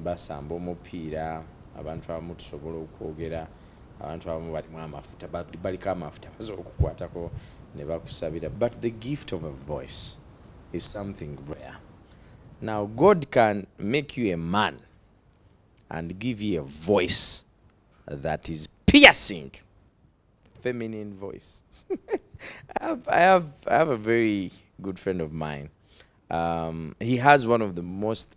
basamba omupiira, abantu abamu tusobola okwogera, abantu abamu balimu amafuta, baliko amafuta basobola okukwatako ne bakusabira but the gift of a voice is something rare. Now God can make you a man and give you a voice that is piercing feminine voice. I, have, I, have, I have a very good friend of mine. Um, he has one of the most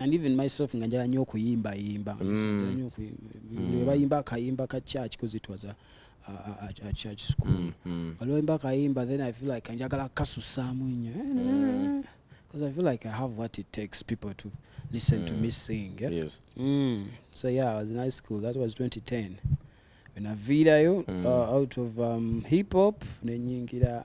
and even myself nga njala nyo okuyimba yimba mm. mm. bayimba akayimba ka church because it was a, a, a, a church school mm, mm. olwoyimba akayimba then i feel like njagala kasusaamu nnyo eh, mm. because i feel like i have what it takes people to listen mm. to me sing yeah? yes. mm. so yeah i was in high school that was 2010 venaviirayo mm. uh, out of um, hip hop nenyingira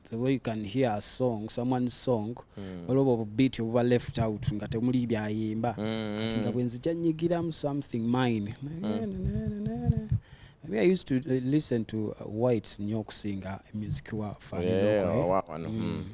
the way you can hear a song someone's song mm. waliwo obwo bubiit obuba left out nga temuli byayimba mm. kati nga bwenzija nyigiramu something mine mm. Maybe I used to uh, listen to uh, whites nyo okusinga music wa faniloko eh? mm.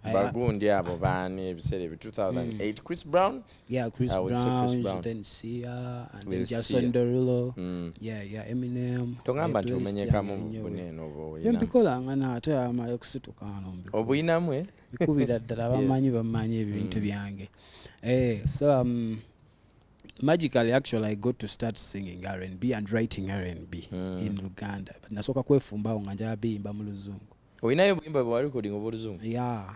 mm. bagundi abo baani ebiseera ebi 2008 mm. chris brown Yeah, Chris I would say Chris Brown, Brown. then Sia, and then Lil Jason Sia. Derulo. Mm. Yeah, yeah, Eminem. togamba Eh, nti playlist omenyekamu yange nnyo. bune eno oba Bye oyina mbikolanga na ate amaye okusituka wano mbikole. obuyinamu eh? bikubira ddala Yes. bamanyi bamanyi ebintu Mm. byange Eh, so um, magically actually i got to start singing rnb and writing rnb Mm. in luganda but nasooka kwefumbawo nga njala biyimba mu luzungu oyinayo obuyimba bwewarekodinga obwoluzungu ya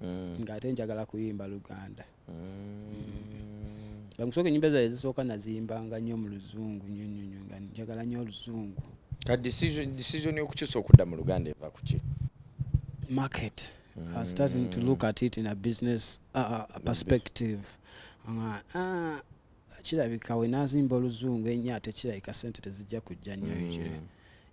mm. nga ate njagala kuyimba luganda mm. mm. bamusoka enyimba zaye zisooka naziyimbanga nnyo mu luzungu nyonyonyo nga njagala nnyo oluzungu ka decision yokukyusa okudda mu luganda eva kuki market mm. I starting to look at it in a business uh, uh perspective uh, uh, kirabika wenazimba oluzungu ennyo ate kirabika sente tezijja kujja nnyo mm. ekyo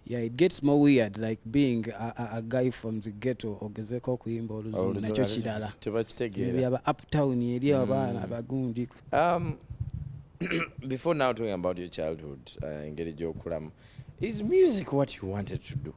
yeah it gets more weird like being a, a, a guy from the ghetto ogezeko okuyimba oluzungu nakyo kirala tebakitegeerabyaba uptown eri mm. abaana abagundi um, before now talking about your childhood uh, engeri uh, gyokulamu is music what you wanted to do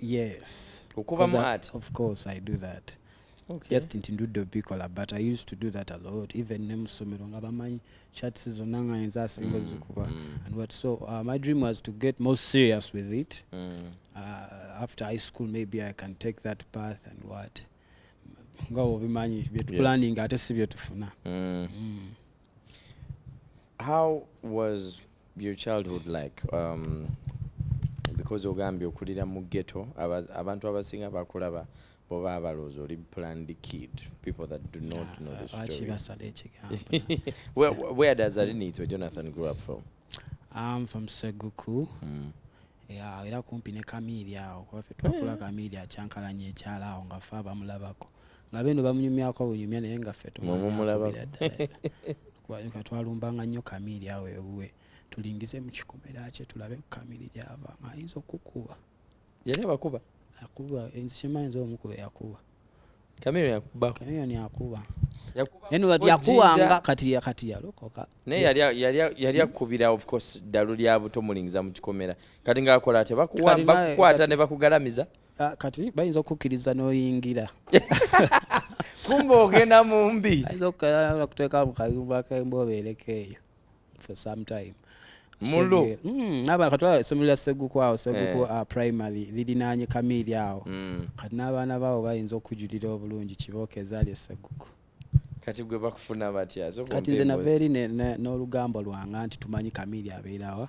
yes okuba mad of course i do that okay. just nti ndudde obikola but i used to do that a lot even ne musomero nga bamanyi chats zonna nga yenza asinga ozikuba mm, mm. and what so uh, my dream was to get more serious with it mm. uh, after high school maybe i can take that path and what nga obimanyi byetuplaninga yes. ate si byetufuna mm. mm. How was your childhood like? Um, because ogambye okulira mu ghetto abantu abasinga bakulaba boba abaloozi oli planned kid people that do not know the ah, story where, where does arinito jonathan grew up from I'm from seguku mm. yeah, era kumpi ne kamiiri awo kuba fe twakula eh. kamiiri akyankalanya ekyalo awo nga fe abamulabako nga beno bamunyumyako bunyumya naye nga ffe tumumulabira ddala katwalumbanga nnyo kamiiri awo ewuwe tulingize mu kikomera kye tulabe ku kamiiri gyava nga ayinza okukuba yali abakuba akuba nze kyemanyi nze omukuba yakuba kamiiro yakuba kamiiro yakuba yakuwanga kati kati yalokoka naye yali akubira of course ddalu lya buto mulingiza mu kikomera kati ngaakola ate bakukwata ne bakugalamiza Ah, kati bayinza okukkiriza n'oyingira kumba ogenda mu mbi ayinza okuteeka mu kayumba kemba obeereko eyo for some time mulo hmm, naba kati olaba essomero lya seguku awo seguku eh. ah, primary lirinaanye kamiiri awo hmm. kati n'abaana baabo bayinza okujulira obulungi kibooko ezaali eseguku kati gwe bakufuna batya kati nze nava eri n'olugambo lwanga nti tumanyi kamiiri abeerawa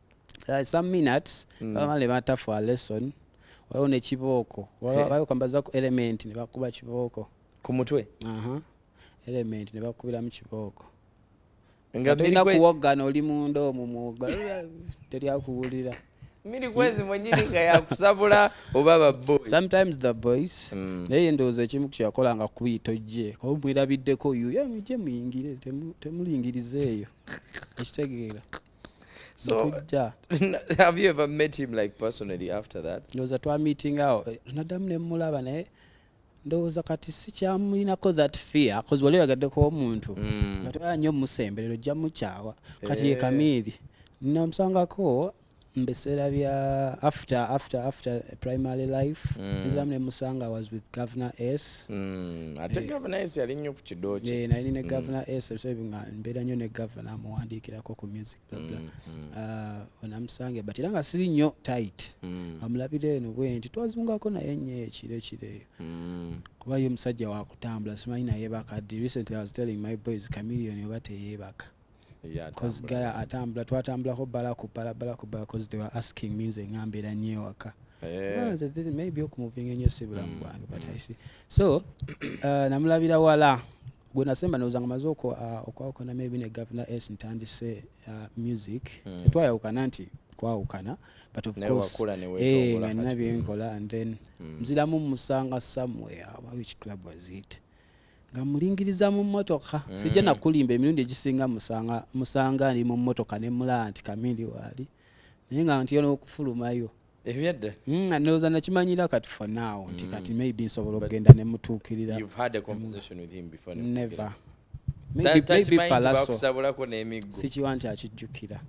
uh, some minutes mm. baba ne bata for a lesson waliwo ne kibooko bayokambaza ku element ne bakuba kibooko ku mutwe aha element ne bakubiramu kibooko nga tulina kuwoggana oli munda omu muwoga teri akuwulira miri kwezi mwenyini nga yakusabula oba baboy sometimes the boys mm. naye ndowooza ekimu kyeyakola nga kuyita ojje kuba mwerabiddeko yuyo mujje muyingire temulingiriza eyo ekitegeera So, Tujja. have you ever met him like personally after that? ndowooza twamitinga awo Eh, naddamu ne mmulaba naye ndowooza kati sikyamulinako that fear kozi wali oyagaddeko omuntu Mm. nga toyala nnyo musemberero ojja mukyawa kati ye Eh. kamiiri namusangako mbiseera bya after after after primary life mm. nzamu nemusanga was with governor s mm. ate eh, governor s yali nnyo ku kidoki eh, nali ne mm. governor mm. s nga mbeera nnyo ne governor amuwandiikirako ku music blabla mm. mm. uh, onamusange but era nga siri nnyo tight mm. amulabira eno bwe nti twazungako naye nnyo ekiro ekireeyo mm. kuba ye musajja wakutambula simanyi naye bakaddi recently i was telling my boys chameleon oba teyeebaka gaya atambula twatambulako bala ku bala bala ku bala cause they were asking me nze nga mbeera nnyo ewaka eh. maybe okumuvinga ennyo si bulamu mm, bwange but mm. i see so uh, namulabira wala gwe nasemba ndowooza nga maze uh, okwawukana maybe ne governor s ntandise uh, music mm. twayawukana nti twawukana but of course eh, nga nina byenkola and then nziramu musanga somewhere which club was it nga mulingiriza mu mmotoka mm. sijja nakulimba emirundi egisinga musanga musanga ndi mu mmotoka ne mulaba nti kamindi waali naye nga nti yona okufulumayo ebyadda mm, ndowooza nakimanyira kati for now nti mm. kati maybe nsobola okugenda ne mutuukirira never maybe, maybe palaso sikiwa nti akijjukira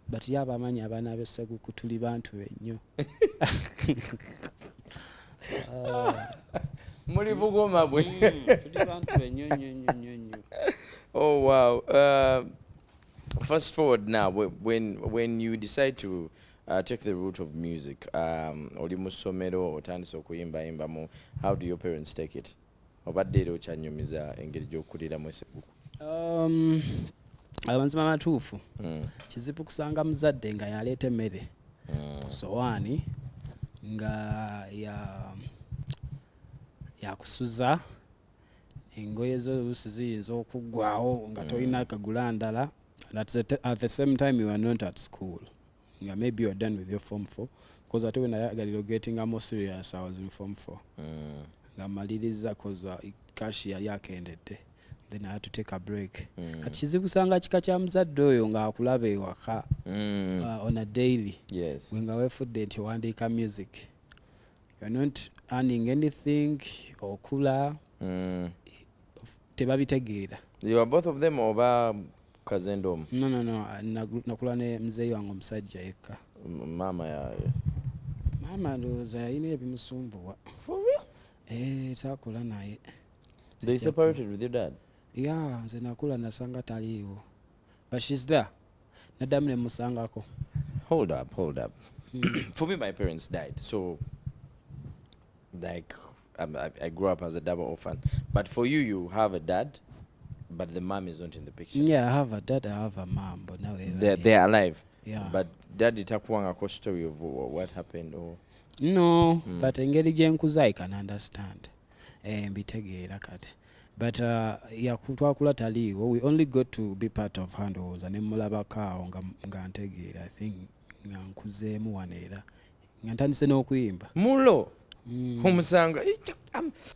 but ye abamanyi abaana be seguku tuli bantu be nnyo muli bugoma bwe tuli bantu be nnyo nnyo nnyo nnyo nnyo oh wow uh, fast forward now when, when you decide to uh, take the route of music um, oli mu ssomero otandise okuyimbayimbamu how do your parents take it Obadde era okyanyumiza engeri gy'okuliramu esebuku? Um, amazima matuufu hmm. kizibu kusanga muzadde nga yaleeta emmere hmm. ku sowaani nga yakusuza ya engoye zo oluusi ziyinza okuggwawo nga hmm. tolina kagula ndala at the same time you are not at school nga maybe you're done with your form 4 cause ate wenayagalira ogetinga more serious i was in form 4 mm. nga maliriza cause uh, cash yali akendedde then i had to take a break mm. kati kizibu sanga kika kya muzadde oyo nga akulaba ewaka mm. uh, on a daily yes. wenga wefudde nti owandiika music you're not earning anything okula mm. tebabitegeera They were both of them oba kazendo omu no no no nagu- nakula ne mzeeyi wange omusajja yekka M- maama yaye maama ndowooza yalina ebimusumbuwa For real? Eh, saakula naye They separated with your dad? ya nze nakula nasanga taliiwo but shes there naddamu nemusangako Hold up, hold up. For me, my parents died. So, like, I'm, I, I grew up as a double orphan. But for you, you have a dad, but the mom is not in the picture. Yeah, I have a dad, I have a mom, but now they're, they're alive. Yeah. But dad itakuwangako story of what happened or no mm. but engeri gyenkuza i can understand eh, mbitegeera kati but uh, twakula taliiwo we only got to be part of handowooza ne mulabako awo nga, nga ntegeera i think nga nkuzeemu wano era nga ntandise n'okuyimba mulo hmm. omusanga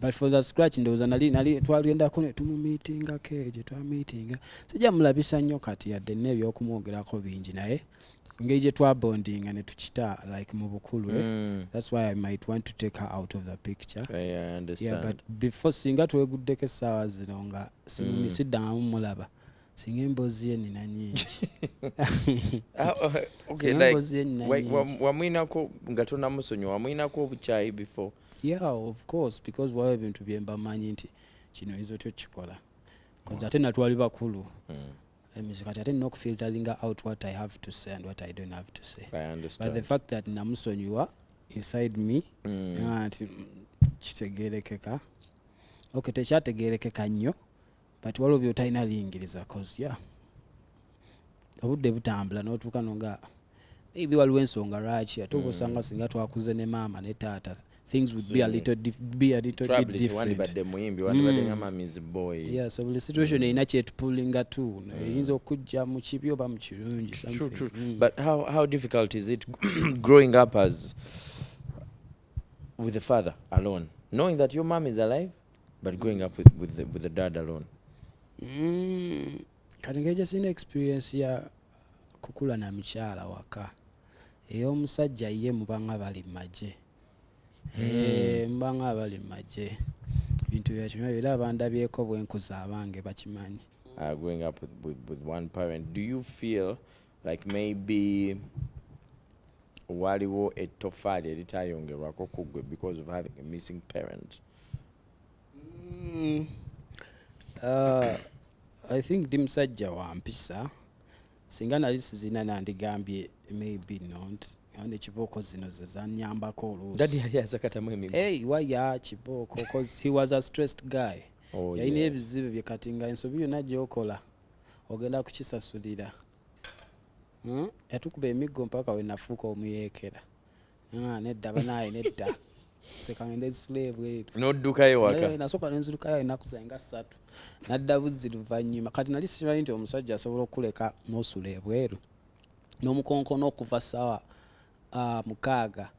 but for the scratch ndowooza nali nali twagendako ne tumumiitingako eyo gye twamiitinga sijja mulabisa nnyo kati yadde nna ebyokumwogerako bingi naye ngeri gye twabondinga ne tukita like mu bukulu eh? mm. that's why i might want to take her out of the picture yeah, yeah, I understand. yeah, but before singa tweguddeko essaawa zino nga mm. siddangamu mulaba singa emboozi ye nina nyingi ah, oh, wamwinako nga tonamusonyiwa wamwinako obukyayi before yeah of course because waba ebintu byemba manyi nti kino oyinza otya okukikola bcause ate natwali bakulu hmm. emizi kati ate nina okufilteringa out what i have to say and what i don't have to say but the fact that namusonyiwa inside me hmm. nti kitegerekeka okay tekyategerekeka nnyo but waliwo byotalina biyingiriza cause yeah obudde butambula notuuka no nga maybe waliwo ensonga lwaki ate oba osanga mm. singa twakuze ne maama ne taata things would be a little, dif be a little bit different mm. yeah, so buli situation mm. erina kyetupulinga tu mm. eyinza okujja mu kibi oba mu kirungi mm. but how, how difficult is it growing up as with the father alone knowing that your mom is alive But growing up with, with, the, with the dad alone? Mm, katengeja sina experience ya kukula na mchala waka eyomusajja ye mubanga bali maje hmm. eh, mubanga bali maje bintu byakino era abandabyeko bwenkuza abange bakimanyi uh, growing up with, with, with one parent do you feel like maybe Waliwo ettofaali eritayongerwako ku ggwe because of having a missing parent? Mm, uh, I think ndi musajja wa mpisa singa nali sizina nandigambye maybe not and ekibooko zino ze zanyambako oluusi yali azakatamu emigo hey, waya kibooko cause he was a stressed guy oh, yalina yes. ebizibu bye kati nga ensobi yonna gyokola ogenda kukisasulira Hmm? yatukuba emiggo mpaka wenafuuka omuyeekera ah, nedda banaaye nedda sekangenda ezisula ebweru noddukayo waka eh, nasooka nenzirukayo enaku zenga ssatu nadda buzzi luvannyuma kati nali simanyi nti omusajja asobola okukuleka nosula ebweru nomukonkono okuva sawa ah, mukaaga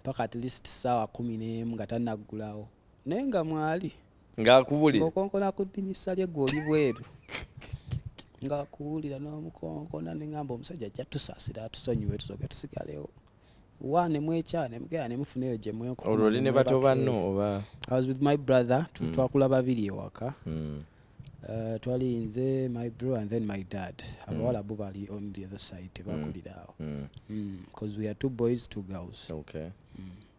paka at least sawa kumi nemu nga tanaggulawo naye nga mwali ng'akubulira ng'okonkona ku ddinisa lye gwe oli bweru ng'akuwulira n'omukonkona ne ŋamba omusajja ajja tusasira atusonyiwe tusooke tusigalewo wa ne mwekya ne mugera ne mufuna eyo gye mwenkuba olwo oli ne bato banno oba i was with my brother mm. twakula babiri ewaka mm. Uh, twali nze my bro and then my dad mm. abawala bo bali on the other side tebakulira mm. awo mm. mm. cause we are two boys two girls okay. mm.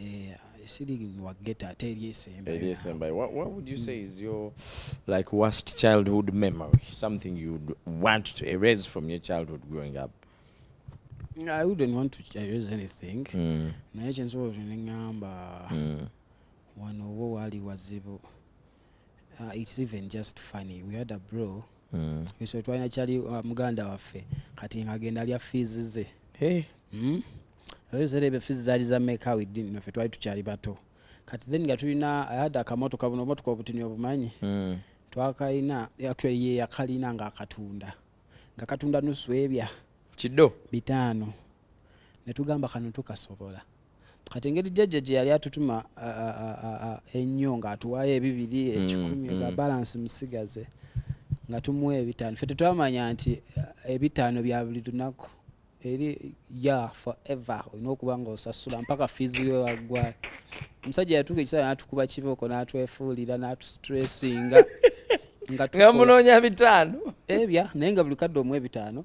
Eh, siri wa ghetto ate eri esembayo. Eri esembayo. What, what would you say is your like worst childhood memory? Something you'd want to erase from your childhood growing up? I wouldn't want to erase anything. Mm. Naye kyensobola okunengamba mm. wano owo waali wazibu. Uh, it's even just funny. We had a bro. Mm. So twalina kyali uh, muganda waffe kati ng'agenda alya fees ze. Hey. Mm? ebiseera ebyo fizi zaali za meka widin nafe twali tukyali bato kati then nga tulina ayadde akamotoka buno omotoka obutini obumanyi hmm. twakalina actually ye yakalina nga akatunda nga katunda nusu ebya kido bitaano netugamba kano tukasobola kati engeri jjajja gye yali atutuma ennyo ng'atuwaayo ebibiri mm, ekikumi nga mm. balansi musigaze nga tumuwa ebitaano fe tetwamanya nti eh, ebitaano bya buli lunaku eri ya forever olina okuba nga osasula mpaka fizi we waggwayo omusajja yatuuka ekisaa natukuba kibooko natwefuulira natustressinga ngamunoonya bitaano ebya eh, naye nga buli kadde omu ebitaano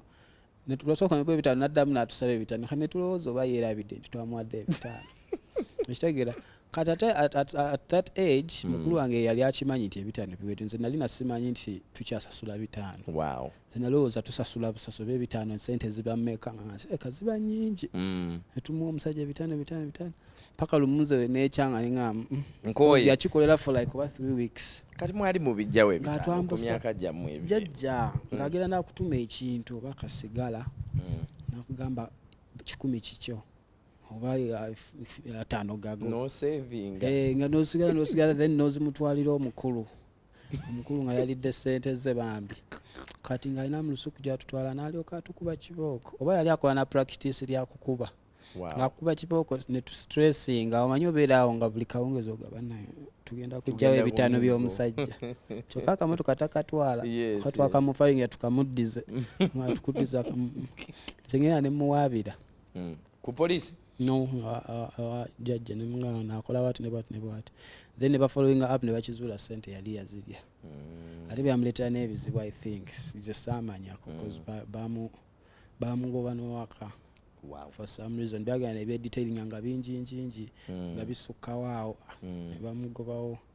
netulwasooka nagwa ebitaano naddamu natusaba ebitaano ka netulowooza oba yeerabidde nti twamuwadde ebitaano ekitegeera kati ate at, at, at that age mm. mukulu wange yali akimanyi nti ebitaano biwedde nze nali nasimanyi nti tukyasasula bitaano wow. nze nalowooza tusasula busasula bebitaano sente ziba meka eka eh, ziba nyingi mm. etumuwa omusajja ebitaano bitaano bitaano paka lumuze nekyanga ninga mm, mm. yakikolera for like oba three weeks kati mwali mubijjawo ebitaanokumyaka gyammwe jajja mm. ngagera nakutuma ekintu oba kasigala mm. nakugamba kikumi kikyo oba uh, ataano gago nosevinga eh, nga nosigala nosigala then nozimutwalira omukulu omukulu nga yalidde sente ze bambi kati nga alina mulusuku gyatutwala nalyoka atukuba kibooko oba yali akola na practice lyakukuba wow. ngakuba kibooko netustressinga omanyi obeeraawo nga buli kawungeezi ogaba nayo tugenda kujjawo ebitaano by'omusajja kyokka akamotoka takatwala yes, katwakamufalinga tukamuddize tukuddiza kamu nze ngenda nemuwaabira mm. ku police no jajja ne mwana nakola wati ne bwati ne bwati then ne bafollowing up ne bakizuula sente yali yazirya mm. ate byamuleetera n'ebizibu i think ze saamanyako bcause mm. bamugoba nowaka wow. for some reason byagana ebyedetailinga nga bingi ngingi mm. nga bisukkawo awo mm. ne bamugobawo mm.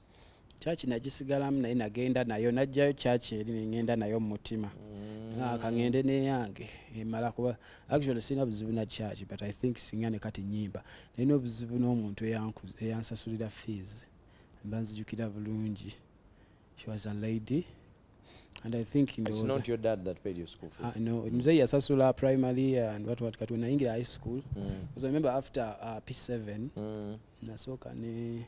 kyaki nagisigalamu naye nagenda nayo najjayo kyaki eri nengenda nayo mu mutima mm. kangende neyange emala kuba actually sirina buzibu na kyaki but i think singa ne kati nyimba nalina obuzibu n'omuntu eyansasulira fees mba nzijukira bulungi she was a lady and i think ah, no mzee yasasula primary and what what kati wenayingira high school mm. because i remember after uh, p7 mm. nasooka ne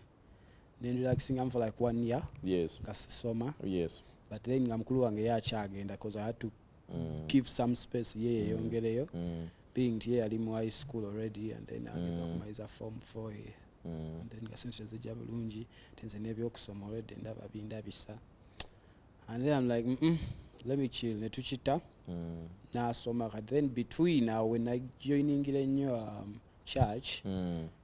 nendilaxingamu for like one year yes. nga sisoma yes. but then nga mukulu wange ye akyagenda bcause i had to mm. give some space ye yeyongereyo mm. mm. being nti ye yali mu high school already and then ageza mm. kumaliza form four ye mm. and then nga sente tezijja bulungi ti nze nebyokusoma already ndaba bindabisa and then i'm like mm -mm, let me chill netukita mm. nasoma kati then between awo wenajoiningira ennyo um, church mm.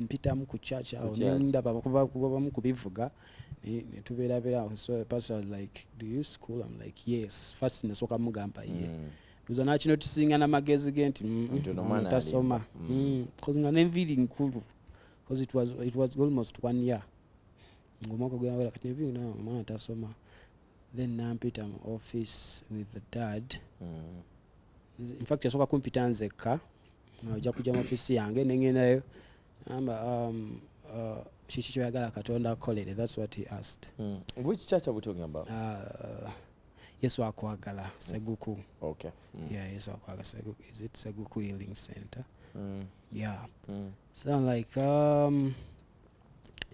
mpitamu ku church awo nendaba kuba bamu kubivuga netubeerabera awo so pastor like do you school am like yes first nasooka mugamba ye mm. uza nakino tusinga namagezi ge nti mm, mm, tasoma bcause nga nenviiri nkulu bcause it was, it was almost one year ngomwaka gwawera kati nenviiri omwana tasoma then nampita mu office with dad mm. infact yasooka kumpita nzekka ojja kujja mu office yange nengendayo amba um, uh, kiki kyoyagala katonda akolere thats what he asked mm. which church are we talking about uh, yesu akwagala seguku okay. mm. yeah, yesu akwagala seguku is it seguku healing center mm. yeah mm. so I'm like um,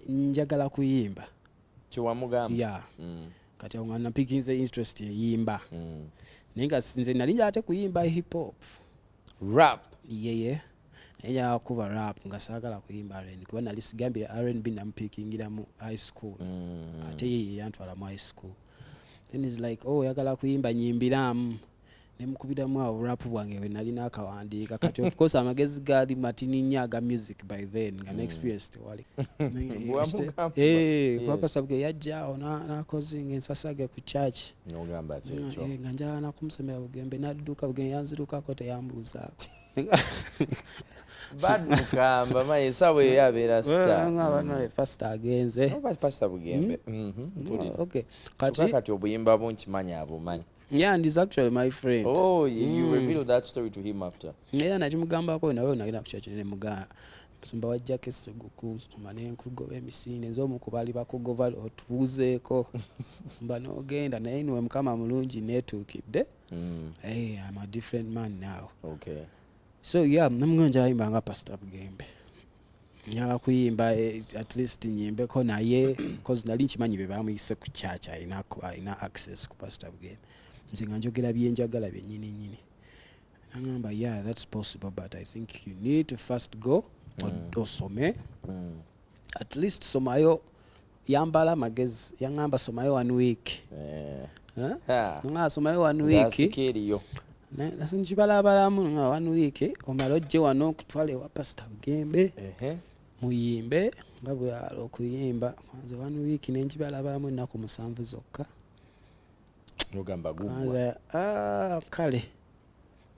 njagala kuyimba kyewamugamba yeah. mm. kati awo nga napikinze interest eyimba mm. naye nga nze nali nja ate kuyimba hip hop rap yeye yeah, yeah. naye nja kuba rap nga saagala kuyimba rn kuba nali sigambye rnb namupikingiramu high school mm. ate yeye yantwala mu high school then is like oh oyagala kuyimba nyimbiramu nemukubiramu awo rap bwange bwe nali nakawandiika kati of course amagezi gaali matini nnyo aga music by then nga ne experience tewali kwapasabwe eh, yajjaawo nakozinga ensasage ku church eh, nga njala nakumusomera bugembe nadduka bugembe yanzirukako teyambuuzaako bad mukamba maye esawa eyo abeera sitapasita mm. agenze oh, pasita bugembe mm-hmm. Mm-hmm. kati obuyimba bunkimanyi abumanyi Yeah, and he's actually my friend. Oh, you, mm. you revealed that story to him after. Yeah, na chimugamba ko nawe unagenda kuchacha ne muga. Musumba wa Jackie Seguku mane nkugoba emisinde nzo mukubali bakugoba otubuzeeko. Mba no genda naye niwe mukama mulungi netukidde. Mm. Hey, I'm a different man now. Okay. So yeah, namngonja imba nga Pastor Bugembe. nyala kuyimba eh, at least nyimbeko naye cause nali nkimanyi be bamuyise ku church alina alina access ku pastor bugenda nze nga njogera byenjagala byenyini nyini nangamba yeah that's possible but i think you need to first go mm. osome mm. at least somayo yambala amagezi yaŋamba somayo one week eh. ah. nga somayo one week nkibalabalamu nga one week omala ojje wano okutwala ewa pasita bugembe muyimbe nga bweyala okuyimba nze one week nenkibalabalamu ennaku musanvu zokka ah, kale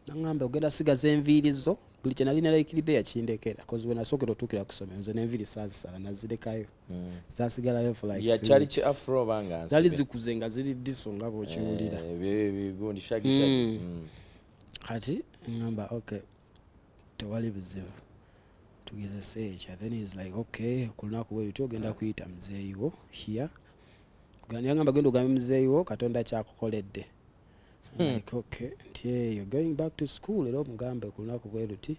nangamba ogenda sigaza enviiri zo buli kye nali nalaikiride yakindekera bcause wenasookera otuukira ku somero nze nenviiri saazisala nazirekayo hmm. zasigalayo yakyali ki afro obanga zali zikuze nga ziri diso nga bwokiwulira eh, hmm. hmm. kati ngamba okay tewali bizibu tugezese ekya then is like okay ku lunaku bwerutyo ogenda kuyita muzeeyiwo hia yangamba genda ogambe muzeeyiwo katonda kyakukoledde Hmm. Like, okay, nti eh, you're going back to school era omugambe ku lunaku bwe luti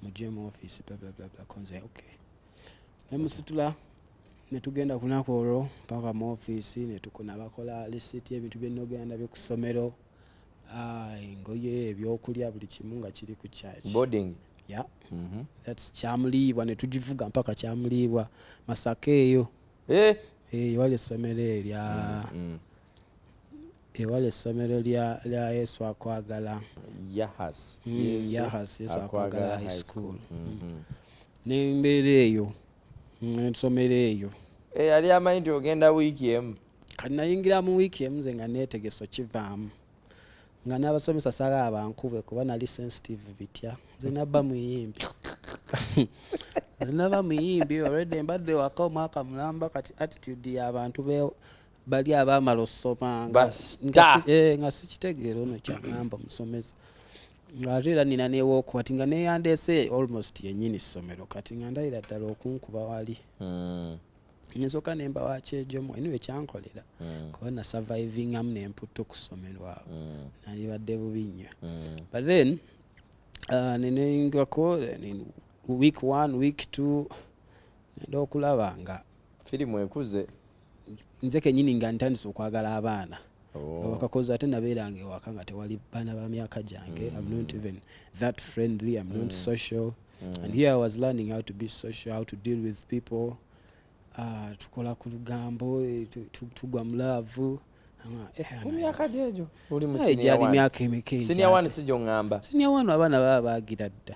mujje mu office bla bla bla bla konze okay ne musitula ne tugenda ku lunaku olwo mpaka mu office ne tukuna bakola lisiti y'ebintu bye nnogenda nabyo ku ssomero ah, engoye ebyokulya buli kimu nga kiri ku church boarding ya mm -hmm. that's kyamuliibwa ne tugivuga mpaka kyamuliibwa masaka eyo eh? eyo eh, wali essomero erya mm -hmm. Ewala essomero lya, lya Yesu akwagala. Yahas. Mm, Yesu Yahas, Yesu akwagala high school. Mm-hmm. N'embeera eyo, n'ensomero mm, eyo. Eh, yali amanyi nti ogenda wiiki emu. Kati nayingira mu wiiki emu nze nga neetegese okivaamu. Nga n'abasomesa sala abankube kuba nali sensitive bitya. Nze nabba muyimbi. Naba muyimbi already mbadde waka omwaka mulamba kati attitude y'abantu bali abaamala osoma eh, nga sikitegeera ono kyagamba musomesa ate era nina newooko kati nga neyandeese almost yenyini ssomero kati nga ndayira ddala okunkuba wali hmm. nsoka nemba wakyejomu eniwe ekyankolera hmm. kuba na surviving amu nemputta okussomero awo hmm. nalibadde bubi nnyo but then uh, nenengako week one week two nenda okulaba nga firimu ekuze nze kenyini nga ntandise okwagala abaana oh. wakakoza ate nabeeranga ewaka nga tewali baana ba myaka gyange mm. am not even that friendly am not mm. social mm. and here i was learning how to be social how to deal with people uh, tukola ku lugambo eh, tugwa mu laavu eh, emyaka gyegyo oli mu eh, siniya wani siniya wani sijo ngamba siniya wani abaana baba bagira dda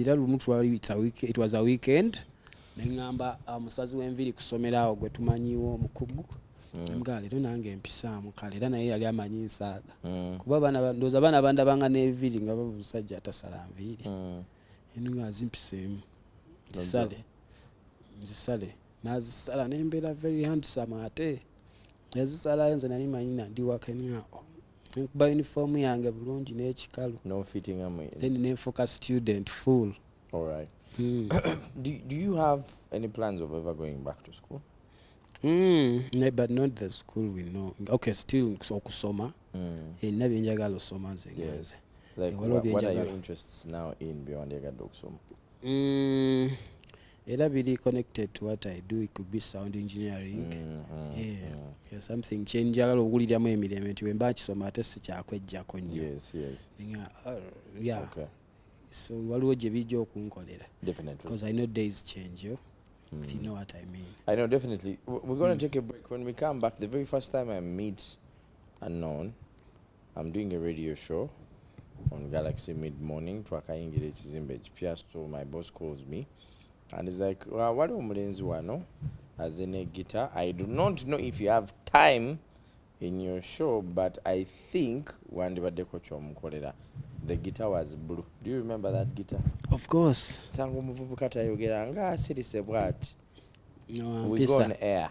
era lumu it was a weekend neŋamba uh, musazi w'enviri kusomera awo gwe tumanyiwo omukugu mm. nga leero nange empisaamu kale era naye yali amanyi nsaaga mm. kuba ndooza abaana bandabanga n'enviri nga babusajja atasala nviiri mm. eno nga azimpiseemu zisale zisale nazisala nembeera very handsome ate yazisalayo nze nali manyi nandiwaka enao nekuba uniform yange bulungi n'ekikalu then nenfuuka student full All right. Mm. do, do you have any plans of ever going back to school? Mm, no, but not the school we know. Okay, still okusoma. Mm. Enna eh, byenjagala osoma nze. Yes. Like what, what are your interests now in byowandiyagadde okusoma? Mm. era biri connected to what i do it could be sound engineering mm, mm, yeah. Mm. Yeah, something kyenjagala okuwuliramu emirembe nti wemba nkisoma ate sikyakwejjako nnyo yes, yes. nga uh, yeah. okay. so waliwo gye bijja okunkolera because i know days change yo mm. if you know what i mean i know definitely we're going to mm. take a break when we come back the very first time i meet Unknown, I'm doing a radio show on Galaxy mid morning twakayingira ekizimbe ekipya so my boss calls me and is like uh, waliwo omulenzi wano aze ne guitar I do not know if you have time in your show but I think wandibaddeko kyomukolera the guitar was blue do you remember that guitar of course sanga omuvubuka tayogera nga asirise bwati no, we go on air